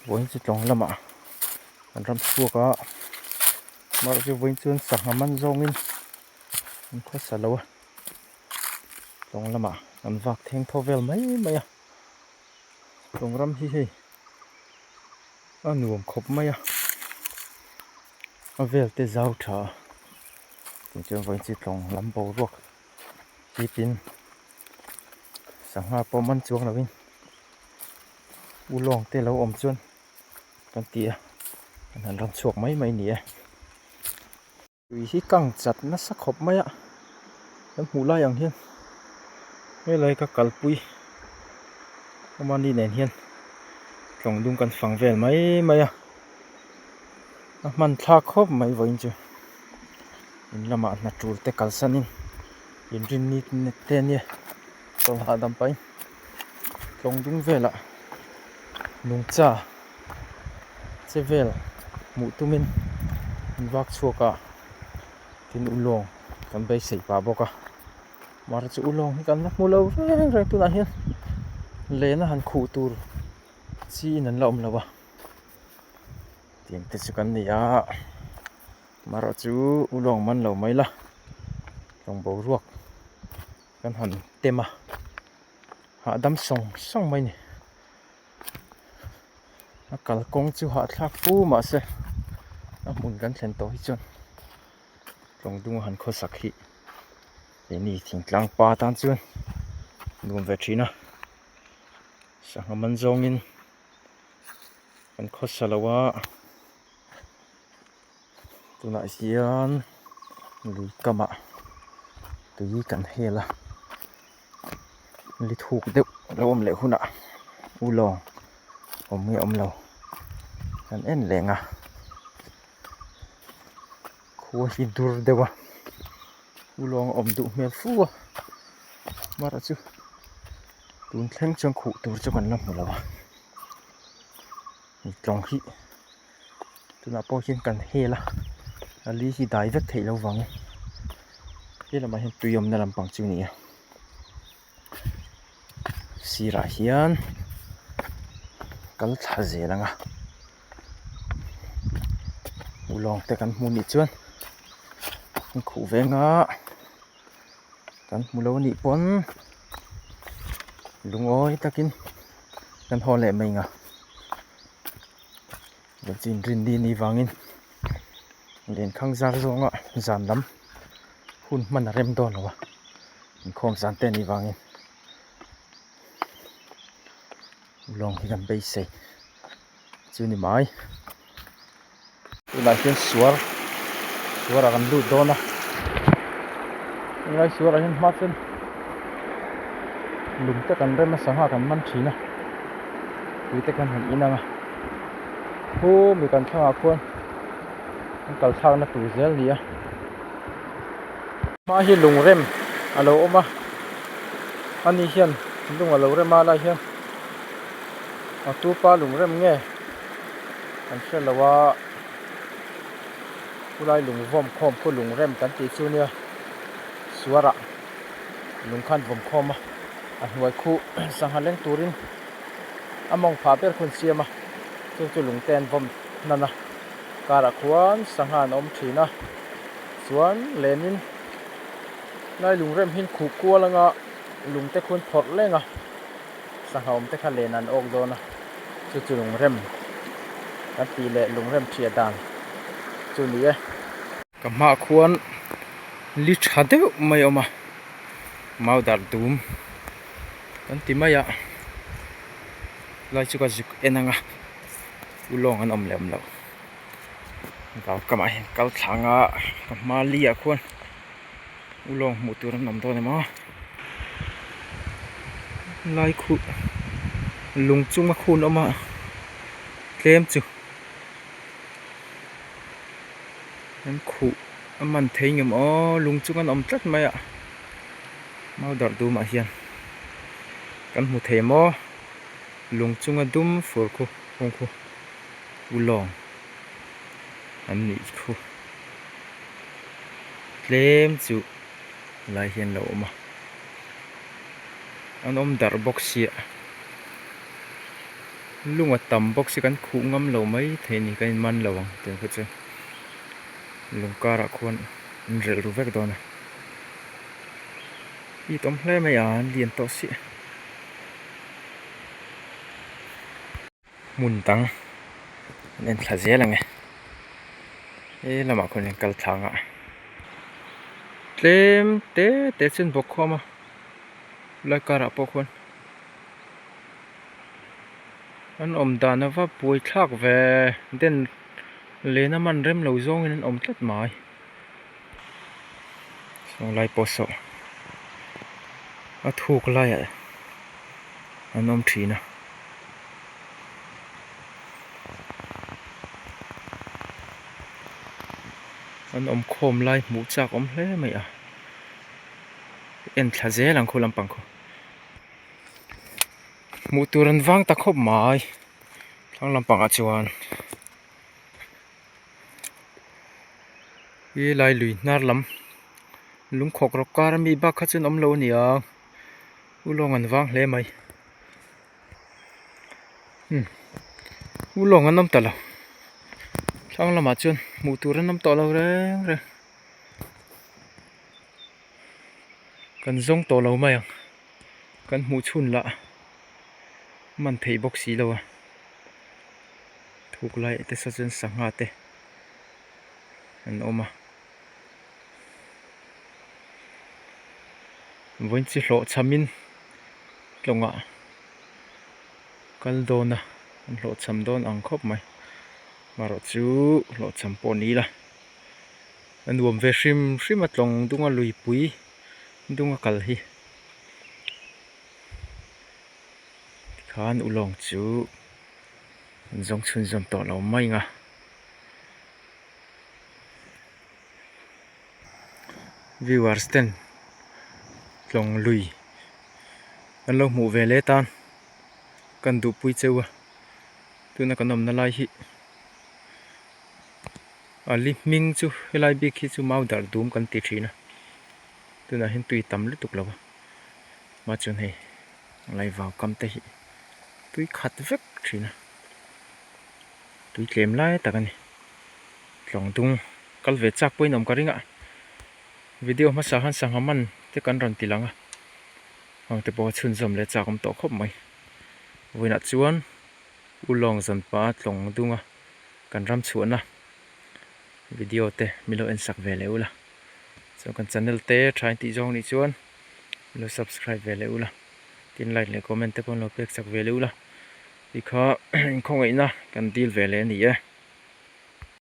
vawiin chu tlawng lamah an ram chhuak a mahse vawiin chuan sangha man zawngin an khawsa lo a tlawng lamah an vak theng thaw vel mai mai a tlawng ram hi hei a nuam khawp mai a a velte zau tha a tichuan vawiin chu tlawng lam boruak hriatin-- Sangha pawh man chuang lovin U Lawngte lo awm chuan kan ti a, an han rawn chhuak mai mai ni e. Lui hi kang chat nasa khawp mai a, kan hmuh lai ang hian helai ka kalpui awma ni nen hian tlawng dum kan fang vel mai mai a, a hmanthlak khawp mai vawiin chu in lamah hnaṭulte kalsanin. inrin ni te nia chaw hahdam pai tlawng ding velah nungcha che vel hmuh tumin in vak chhuak a tin u lawng kan beisei pah bawk a mar chu u lawng hi kan la hmu lo reng reng tunah hian lehna han khuh tur chi in an la awm lo a tiang te chu kan ni a. Hmarah chu u lawng man lo mai la lawng boruak kan han tem a hahdam sawng sawng mai ni a kalkawng chu hahthlak fu mah se a hmun kan thlen tawh hi chuan tlawng duma han khaw sak hi he ni thingtlang pa tan chuan nuam ve thin a sangha man zawngin kan khawsa lo a. tunah hian lui kamah tui kan hel a luithuk deuh a lo awm leh hunah u lawng awm nge awmlo kan en leng a khua hi dur deuh a u lawng a awm duh hmel fu a mar chu tun thleng chuan khuh tur chu kan la hmu lo a tlawng hi-- tunah pawh hian kan hel a a li hi dai vek theih lo vang e he lamah hian tui awmna lam pang chu nia sirah hian kal thla zel anga u lawng te kan hmu nih chuan in khuh venga kan hmu lo nih pawn lungawi takin kan haw leh mainga. Chin Rinni ni vangin Lenkhang zar zawnga zan lam hun hman a rem dawn lo a, inkhawm zan te ni vangin lawng hi kan beisei chu ni mai. Tunah hian suar suarah kan lut dawn a helai suarah hian hma chuan lung te kan rem a sangha kan man thin a tui te kan han inang a hu mi kan thlangah khuan kan kal thlakna tur zel a ni a hma hi lung rem a lo awm a a ni hian lung a lo rem a lai hian a tupa lung rem nge. Kan hre lo a, khulai lung vawm khawm khaw lung rem kan tih chu nia, suara lung khan vawm khawm a, a hnuai khu sangha leng turin a mawng phah ber khawn siam a, chung chu lung ten vawm hnan a, karah khuan sangha an awm thin a, chuan lenin khulai lung rem hi khuh kual anga lung te khun phawrh leng a. Sangha awmte kha len an awk dawn a, chu chu lungrem kan tih leh lungrem ṭhiah dan chu ni e. Ka hmah khuan li ṭha deuh mai a awm a, mau dar dum kan ti mai a, helai chu ka zuk en ang a, u lawng an awm leh awm lo, vau kamah hian kal thlanga ka hma li ah khuan. U lawng hmuh tur an awm dawn em a lai khut lung chunga khun awm a tlem chu an khuh a man thei ngam aww lung chung an awm tlat mai a mau darh dum ah hian kan hmu thei maw lung chunga dum fur khaw hung khaw u lawng an nih khaw. tlem chu lai hian lo awm a an awm darh bawk sia lung a tam bawk sia kan khuh ngam lo mai thei a ni ka in man lo ang tun kha chu lung karah khuan in relh ru vek dawn a i tawm hle mai a an lian tawh siah. hmun dang an en thla zel ang e he lamah khawn in kal thlang ah tlem te te chu an bawk khawm a helai kar ah pawh khawn an awm dan ava buai thlak ve den lehna man rem lo zawng in an awm tlat mai. Chunglai pawh saw a thuk laiah an awm thin a. An awmkhawm lai hmuh chak awm hle mai a. En thla zel ang khaw lampang khaw. Hmuh tur an vang ta khawp mai thlang lampangah chuan. Hi helai lui hnar lam lungkhawk rawk kar ami bak kha chuan awmlo a ni a u lawng an vang hle mai imm u lawng an awm ta lo thlang lamah chuan hmuh tur an awm tawh lo reng reng. kan zawng tawh lo mai ang kan hmuh chhun lah man theih bawk si lo a thuk lai te se chuan sangha te an awm a vawiin chi hlawh chham in tlawngah kal dawn a an hlawh chham dawn ang khawp mai amarawhchu hlawh chham pawh ni ila. a nuam ve hrim hrim a tlawng dunga lui pui dunga kal hi tikhan u lawng chu an zawng chhun zawm tawh lo mai anga viewers ten tlawng lui an lo hmuh ve leh tan kan duh pui cheu a tuna kan awmna lai hi. A li hming chu helai bik hi chu mau darh dum kan ti thin a tunah hian tui tam lutuk lo a mah chuan hei angai vau kam te hi tui khat vek thin a tui tlem lai tak a ni tlawng dung kal ve chak pawhin awm ka ring a video hmasa han sangha man te kan rawn ti lang a hang te pawh chhun zawm leh chak awm tawh khawp mai vawiinah chuan ulawng zawn pah a tlawng dung a. kan ram chhuahna video te min lo en sak ve leh ula chuan kan channel te tha intih zawng anih chuan min lo subscribe ve leh ula tin like leh comment te pawh min lo pek chak ve leh ula khi kha inkhawngei na kan dil ve leh a ni e.